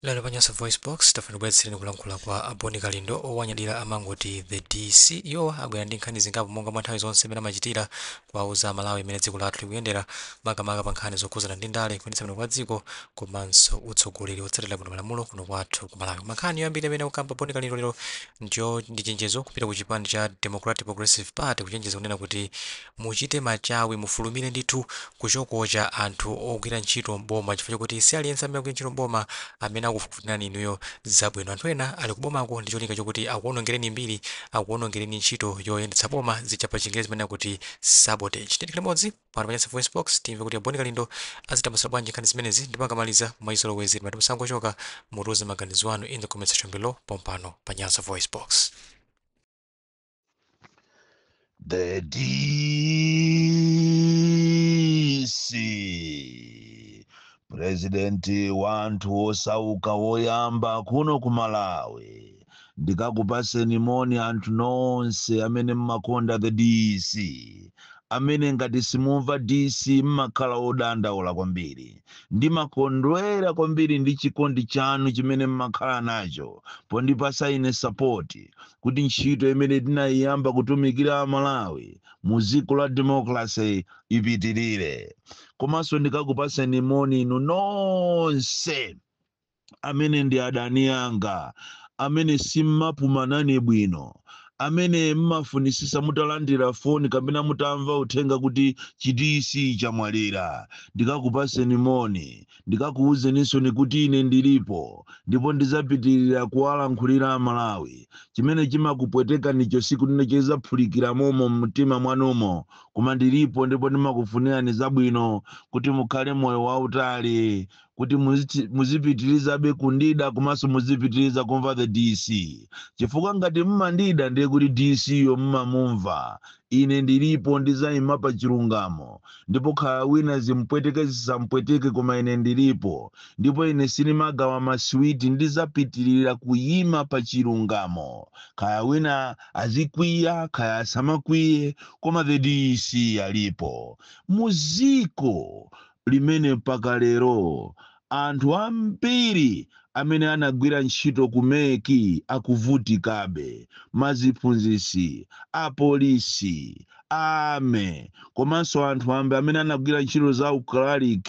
Lero pa Nyasa VoiceBox tafuna tibweretsereni kulankhula kwa a Boni Kalindo owanyadira amangoti the DC. Iwowa abwera ndi nkhani zingapo monga mwa nthawi zonse mmene amachitira kuwauza Amalawi mmene dziko lathu likuyendera makamaka pa nkhani zokhudzana ndi ndale, kuyendetsa bwino kwa dziko komanso utsogoleri wotsatira bwino malamulo kuno kwathu ku Malawi. Koma nkhani yoyambirira imene akukamba Boni Kalindo lero ndiyo ndi chenjezo kupita ku chipani cha Democratic Progressive Party kuchenjeza kunena kuti muchite machawi mufulumire ndithu kuchokocha anthu ogwira ntchito m'boma chifukwa chokuti si aliyense amene akugwira ntchito m'boma amene akufunirani inuyo zabwino. Anthu ena ali kubomako ndi cholinga chokuti akuonongereni mbiri, akuonongereni ntchito yoyendetsa boma zija pa chingerezi timanena kuti sabotage. Tiyeni tikhale limodzi pano pa Nyasa VoiceBox timve kuti a Boni Kalindo azitambasula bwanji nkhani zimenezi ndipo akamaliza mwachizolowezi timati musangochoka mutiuze maganizo anu in the comment section below pompano pa Nyasa VoiceBox. The DC purezidenti wa anthu osauka woyamba kuno ku Malawi ndikakupaseni moni anthu nonse amene mmakonda the DC amene ngati simumva DC mmakhala odandaula kwambiri Ndimakondwera kwambiri ndi chikondi chanu chimene m'makhala nacho pondipatsa ine sapoti kuti ntchito imene tinaiyamba kutumikira a Malawi mu dziko la democracy ipitilire. Komanso ndikakupaseni moni inu nonse. amene ndi adani anga amene simmapuma nane bwino amene mmafunisisa mutalandira foni kapena mutamva uthenga kuti chidc chamwalira ndikakupaseni moni ndikakuwuzeninsoni kuti ine ndilipo ndipo ndizapitirira kuwalankhulira amalawi chimene chimakupwetekanicho siku lina chizaphulikira momo mtima mwanumo koma ndilipo ndipo ndimakufunirani zabwino kuti mukhale moyo wautali kuti muzipitirizabe kundida komanso muzipitiriza kumva the dc chifukwa ngati mmandida ndiye kuti dc yo mmamumva ine ndilipo ndizayima pa chilungamo ndipo kaya wina zimpweteke zisampweteke koma ine ndilipo ndipo ine sinimagawa masiwiti ndizapitirira kuyima pa chilungamo kaya wina azikwiya kaya asamakwiye koma the dc alipo muziko limene mpaka lero anthu ambiri amene anagwira ntchito ku mec akuvutikabe, maziphunzitsi, apolisi, a army komanso anthu amb amene anagwira ntchito za u cleric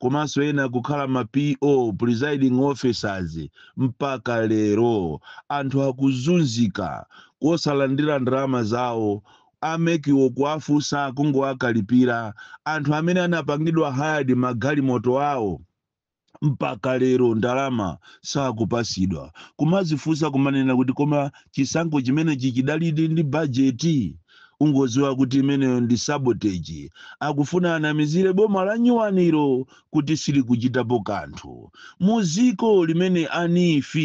komanso ena kukhala ma P.O, presiding officers, mpaka lero anthu akuzunzika kosalandira ndalama zawo a MEC wo kuwafunsa kungowakalipila anthu amene anapangidwa hired ma galimoto awo mpaka lero ndalama sakupasidwa kumazifunsa kumanena kuti koma chisankho chimenechi chidalidi ndi budget ungoziwa kuti imeneyo ndi sabotage akufuna anamizile boma la nyuwanilo kuti silikuchitapo kanthu. Mu ziko limene a NEEF,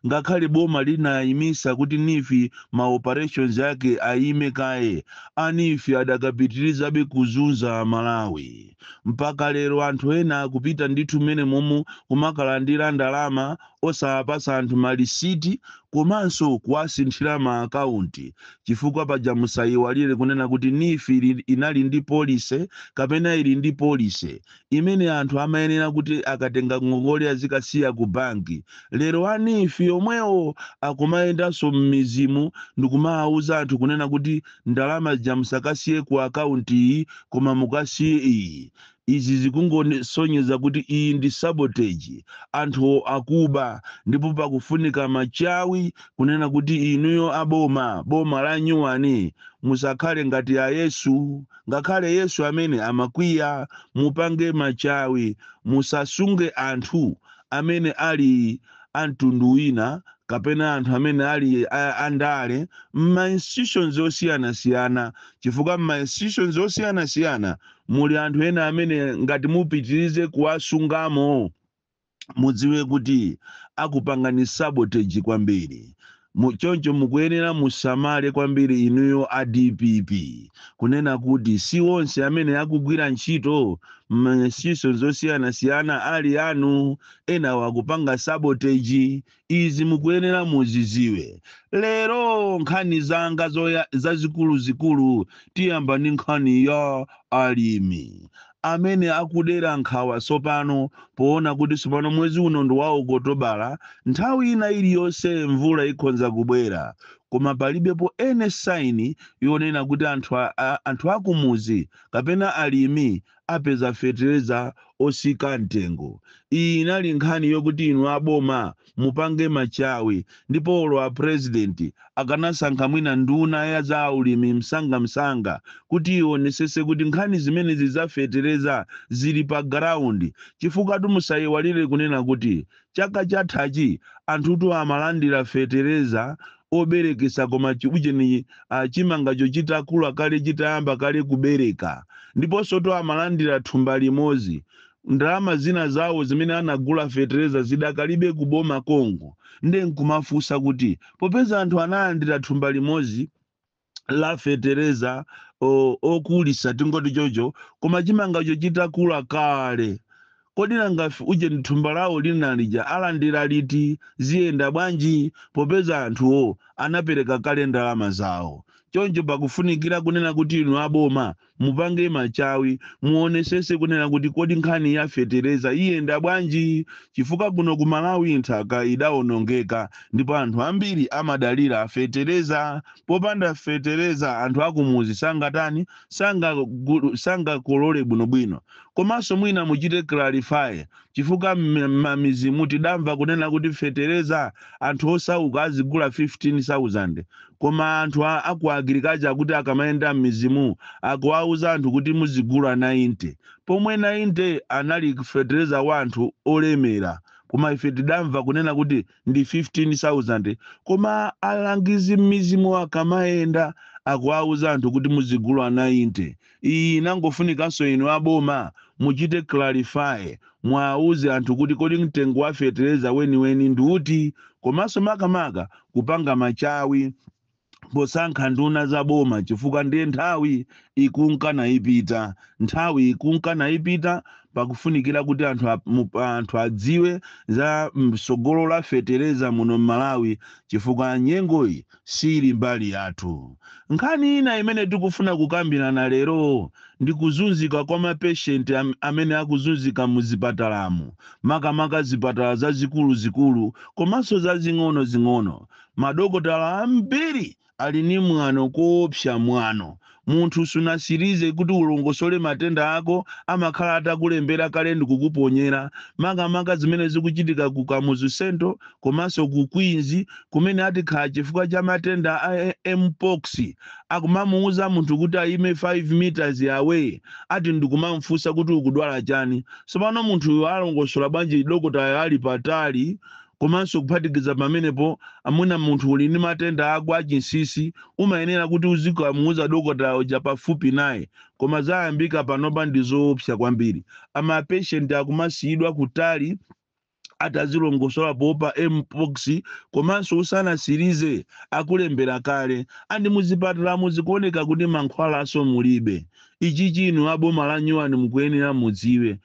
ngakhale boma linayimisa kuti NEEF ma operations ake ayime kaye, a NEEF adakapitilizabe kuzunza a Malawi. Mpaka lero anthu ena akupita ndithu mmenemomu kumakalandira ndalama osawapatsa anthu malisiti komanso kuwasinthira ma account chifukwa paja musayiwalire kunena kuti NEEF inali ndi policy kapena ili ndi policy imene anthu amayenera kuti akatenga ngongole azikasiya ku banki. Lero a NEEF omwewo akumayendanso m'midzimu ndikumawawuza anthu kunena kuti ndalama zija musakasiye ku account iyi koma mukasiye iyi. Izi zikungosonyeza kuti iyi ndi sabotage, anthuwo akuba ndipo pakufunika machawi kunena kuti inuyo a boma, boma lanyuwani musakhale ngati a Yesu, ngakhale Yesu amene amakwiya, mupange machawi musasunge anthu amene ali a mtundu wina kapena anthu amene ali a andale m'ma institutions osiyanasiyana chifukwa m'ma institutions osiyanasiyana muli anthu ena amene ngati mupitirize kuwasungamo, mudziwe kuti akupangani sabotage kwambiri. Choncho mukuyenera musamale kwambiri inuyo a DPP kunena kuti si onse amene akugwira ntchito m'ma institutions osiyanasiyana ali anu, enawo akupanga sabotage, Izi mukuyenera muziziwe. Lero nkhani zanga zazikuluzikulu tiyamba ndi nkhani ya alimi amene akudera nkhawa tsopano poona kuti tsopano mwezi uno ndi wa Okotobala, nthawi ina iliyonse mvula ikhonza kubwera koma palibepo any sign yonena kuti anthu a, a, anthu akumudzi kapena alimi apeza fetereza otsika mtengo. Iyi inali nkhani yokuti inu a boma mupange machawi ndipo olo a president akanasankha mwina nduna ya za ulimi msanga msanga kuti ionesese kuti nkhani zimenezi za fetereza zili pa ground chifukwatu musaiwalire kunena kuti Chaka chathachi anthutu amalandira fetereza oberekesa koma chiujeni uh, chimangacho chitakula kale chitayamba kale kubereka ndiponsotu amalandira thumba limodzi ndalama zina zawo zimene anagula fetereza zidakalibe ku boma konko nde nkumafunsa kuti popeza anthu analandira thumba limodzi la fetereza o- okulisa tingoti chocho koma chimangacho chitakula kale kodi nanga f- uje thumba lawo lina lija alandira liti ziyenda bwanji popeza anthuwo anapereka kale ndalama zawo choncho pakufunikira kunena kuti inu aboma Mupange machawi, muonesese kunena kuti kodi nkhani ya fetereza iyenda bwanji chifukwa kuno ku Malawi nthaka idaonongeka ndipo anthu ambiri amadalira fetereza. Popanda fetereza anthu akumuzi sangatani, sanga, sangakolole bwinobwino. Komanso mwina muchite clarify chifukwa mmamizimu tidamva kunena kuti fetereza anthu osauka azigula 15,000 koma anthu a, aku agriculture kuti akamayenda mmizimu akuwauza anthu kuti muzigula 90 pomwe 90 anali fetereza wa anthu olemera koma ife tidamva kunena kuti ndi 15,000 koma alangizi mmizimu akamayenda akuwauza anthu kuti muzigula 90 Iyi inangofunikanso inu a boma muchite clarify muauze anthu kuti kodi mtengo wa fetereza weniweni ndiuti komanso makamaka kupanga machawi posankha nduna za boma chifukwa ndiye nthawi ikunka naipita nthawi ikunka naipita pakufunikira kuti anthu, a- mu- anthu adziwe za msogolo la fetereza muno m'malawi chifukwa nyengoyi siili mbali yathu. Nkhani ina imene tikufuna kukambirana lero ndi kuzunzika kwa mapeshenti am, amene akuzunzika mu zipatalamu, makamaka zipatala zazikuluzikulu komanso zazing'onozing'ono. Madokotala ambiri ali ndi mwano koopsa mwano Munthu sunasilize kuti ulongosole matenda ako amakhala atakulembera kale ndikukuponyera makamaka zimene zikuchitika ku Kamuzu central komanso ku Queens kumene ati khala chifukwa cha matenda a MPox akumamuuza munthu kuti ayime 5 meters away ati ndikumamufunsa kuti ukudwala chani sopano munthuyo alongosola bwanji dokotayo ali patali Komanso kuphatikiza pamenepo, mwina munthu uli ndi matenda ako a chinsisi, umayenera kuti uzikamuuza dokotala uja pafupi naye. Koma zayambika panopa ndi zoopsa kwambiri. a Ma patient akumasiyidwa kutali ati azilongosola poopa MPOX komanso usanasilize akulembera kale. And muzipatalamu zikuoneka kuti mankhwalanso mulibe. Ichichi inu a boma la nyuwani mukuyenera mudziwe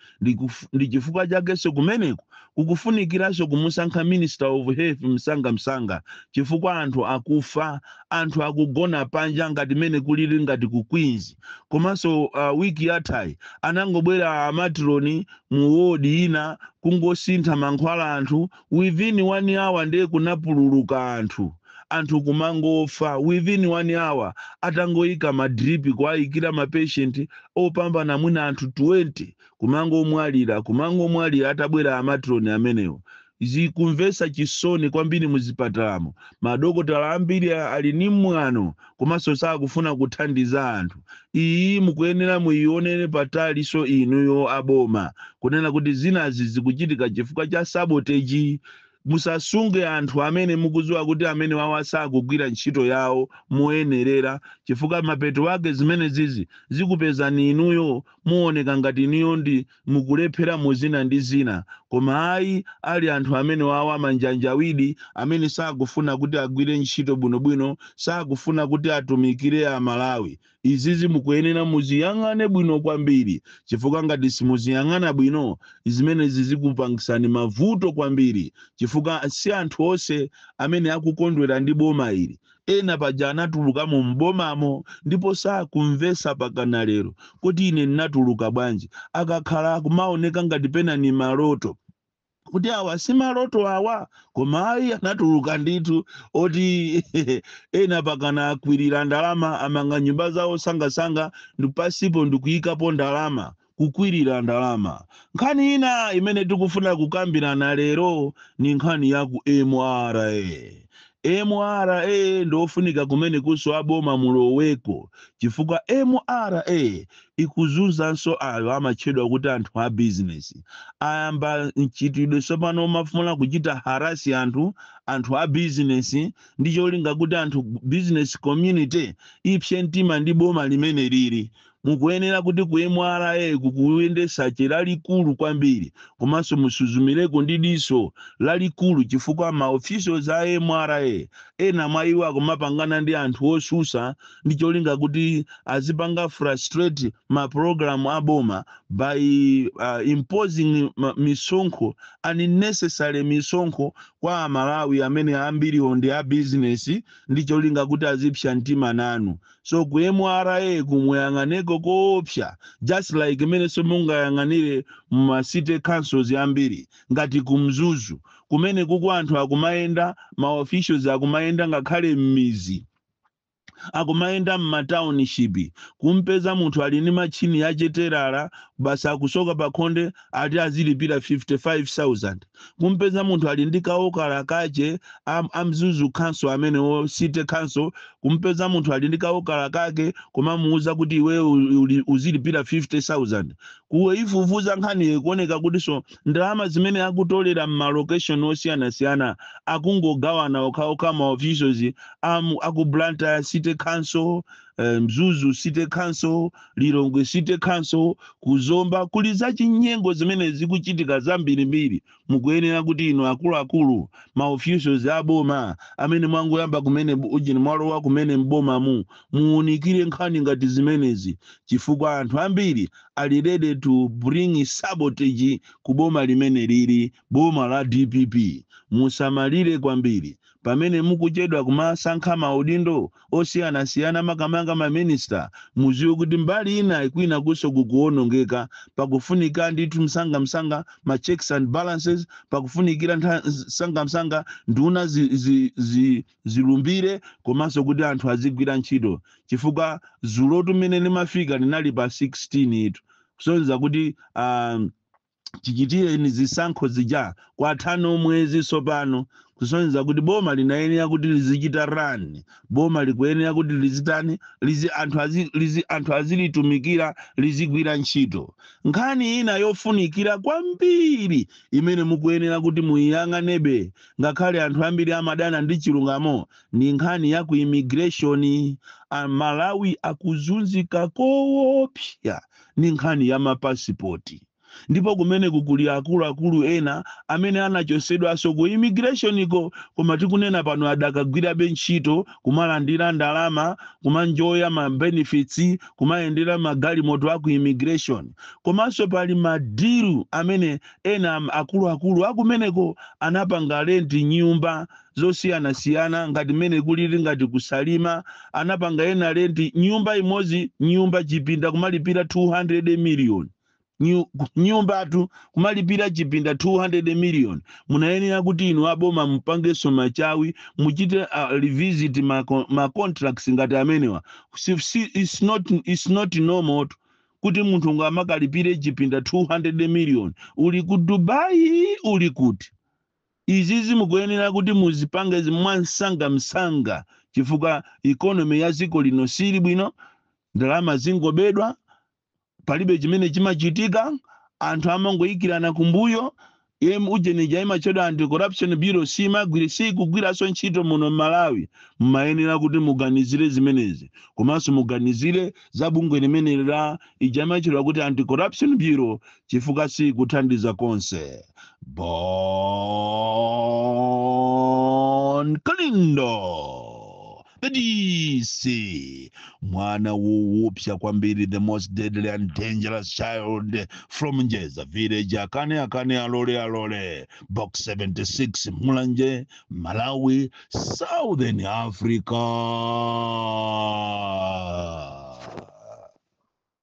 ndi chifukwa chakenso kumeneku kukufunikiranso kumusankha minister of health msanga msanga chifukwa anthu akufa anthu akugona panja ngati mene kulili ngati ku Queens komanso week yathayi anangobwera a matron mu ward ina kungosintha mankhwala anthu within one hour nde kunapululuka anthu, anthu kumangofa within one hour atangoika ma drip kuwaikira ma patient opambana mwina anthu 20 kumangomwalira kumangomwalira atabwera a matron amenewo. Zikumvetsa chisoni kwambiri muzipatalamo madokotala ambiri ali ndi mwano komanso sakufuna kuthandiza anthu iyi mukuyenera muyionere pataliso inuyo aboma kunena kuti zinazi zikuchitika chifukwa cha sabotage musasunge anthu amene mukudziwa kuti amene wawa sakugwira ntchito yawo moyenerera chifukwa mapeto ake zimene zizi zikupezani inuyo muoneka ngati inuyo ndi mukulephera mu zina ndi zina, koma ayi ali anthu amene wawa amanjanjawidi amene sakufuna kuti agwire ntchito bwino bwino, sakufuna kuti atumikire a Malawi. Izizi mukuyenera muziyang'ane bwino kwambiri chifukwa ngati simuziyang'ana bwino zimenezizi zikupangisani mavuto kwambiri chifukwa si anthu onse amene akukondwera ndi boma ili. Ena paja anatulukamo m'bomamo ndipo sakumvetsa pakana lero kuti ine ndinatuluka bwanji. Akakhala kumaoneka ngati pena ni maloto. Kuti awa si maloto awa? Koma ayi anatuluka ndithu oti ena pakana akwirira ndalama amanga nyumba zawo sangasanga ndi pansipo ndikuyikapo ndalama. Kukwirira ndalama. Nkhani ina imene tikufuna kukambirana lero ni nkhani ya ku mra. Mra ndi ofunika kumenekunso a boma muloweko chifukwa mra ikuzunzanso ayo amatchedwa kuti anthu a bizinesi. Ayamba mchitidwe tsopano omafuna kuchita harass anthu, anthu a bizinesi ndi cholinga kuti anthu, business community, ipse mtima ndi boma limeneli li Mukuyenera kuti ku mra-ku kuyende search lalikulu kwambiri komanso musuzumireko ndi diso lalikulu chifukwa ma officials a mra ena mwa iwo akumapangana ndi anthu osusa ndi cholinga kuti azipanga frustrate ma program a boma by uh, imposing misonkho unnecessary misonkho kwa amalawi amene ambiriwo ndi a business ndi cholinga kuti azipsa mtima nanu so ku mra-ku muyang'aneko koopsa just like mmenenso mungayang'anire muma city councils ambiri ngati ku mzuzu kumene kuku anthu akumayenda ma officials akumayenda ngakhale m'mizi akumayenda m'matauninshipi kumpeza munthu ali ndi matchini ya utelala basi akusoka pakhonde ati azilipira 55000 kumpeza munthu ali ndi kawokala kache am- amzuzu council amenewo city council kumpeza munthu ali ndi kawokala kake kumamuuza kuti iwe u- uli- uzilipira 50000 kuyifufuza nkhaniyo ikuoneka kutinso ndalama zimene akutolera m'malokeshoni osiyanasiyana akungogawana okhaokha ma officials am- aku blantyre city council eh, mzuzu city council Lilongwe City Council, ku Zomba kuli zachinyengo zimene zikuchitika zambirimbiri. Mukuyenera kuti inu akuluakulu, ma officials a boma amene mwangoyamba kumene ujeni mwalowa kumene m'bomamu, muunikire nkhani ngati zimenezi chifukwa anthu ambiri ali ready to bring sabotage ku boma limeneli. Boma la dpp musamalire kwambiri pamene mukuchedwa kumasankha maudindo osiyanasiyana makamaka ma minister mudziwe kuti mbali inayi kwinakunso kukuonongeka pakufunika ndithu msangamsanga ma checks and balances pakufunikira ntha- msangamsanga nduna zi, zi, zi, zilumbire komanso kuti anthu azigwira ntchito chifukwa dzulotu mmene limafika linali pa 16 itu kusonyeza kuti um, chichitireni zisankho zija kwatha no mwezi tsopano kusonyeza kuti boma linayenera kuti lizichita run boma likuyenera kuti lizitani lizi anthu azi, lizi anthu azilitumikira lizigwira ntchito nkhani ina yofunikira kwambiri imene mukuyenera kuti muyiyang'anebe ngakhale anthu ambiri amadana ndi chilungamo ndi nkhani ya ku immigration amalawi akuzunzika koopsa ndi nkhani ya mapasipoti. Ndipo kumeneko kuli akuluakulu ena amene anachotsedwanso ku imigireshoniko koma tikunena pano adakagwirabe ntchito, kumalandira ndalama, kumanjoya ma benefits, kumayendera magalimoto a ku imigireshoni. Komanso pali madilu amene ena akuluakulu akumeneko anapanga lenti nyumba zosiyanasiyana ngati mmene kulili ngati kusalima anapanga ena lenti nyumba imodzi nyumba chipinda kumalipira 200 million Nyu- nyumbatu kumalipira chipinda 200 million munayenera kuti inu aboma mupangenso machawi muchite uh, revisit ma, con- ma contracts ngati amenewa si, si, it's not, it's not normal to- kuti munthu ngamakalipire chipinda 200 million uli ku dubai uli kuti Izizi mukuyenera kuti muzipange mwamsangamsanga chifukwa economy ya dziko lino siili bwino, ndalama zingobedwa, palibe chimene chimachitika, anthu amangoikirana kumbuyo, em ujeni ija imatchedwa anti corruption bureau simagwira sikugwiranso ntchito muno mmalawi, mumayenera kuti muganizire zimenezi komanso muganizire za bungwe limeneli la ija imatchedwa kuti anti corruption bureau chifukwa sikuthandiza konse. Bon Kalindo the DC mwana wowopsa kwambiri the most deadly and dangerous child from Njeza village akane akane alole alole box 76 Mulanje Malawi Southern Africa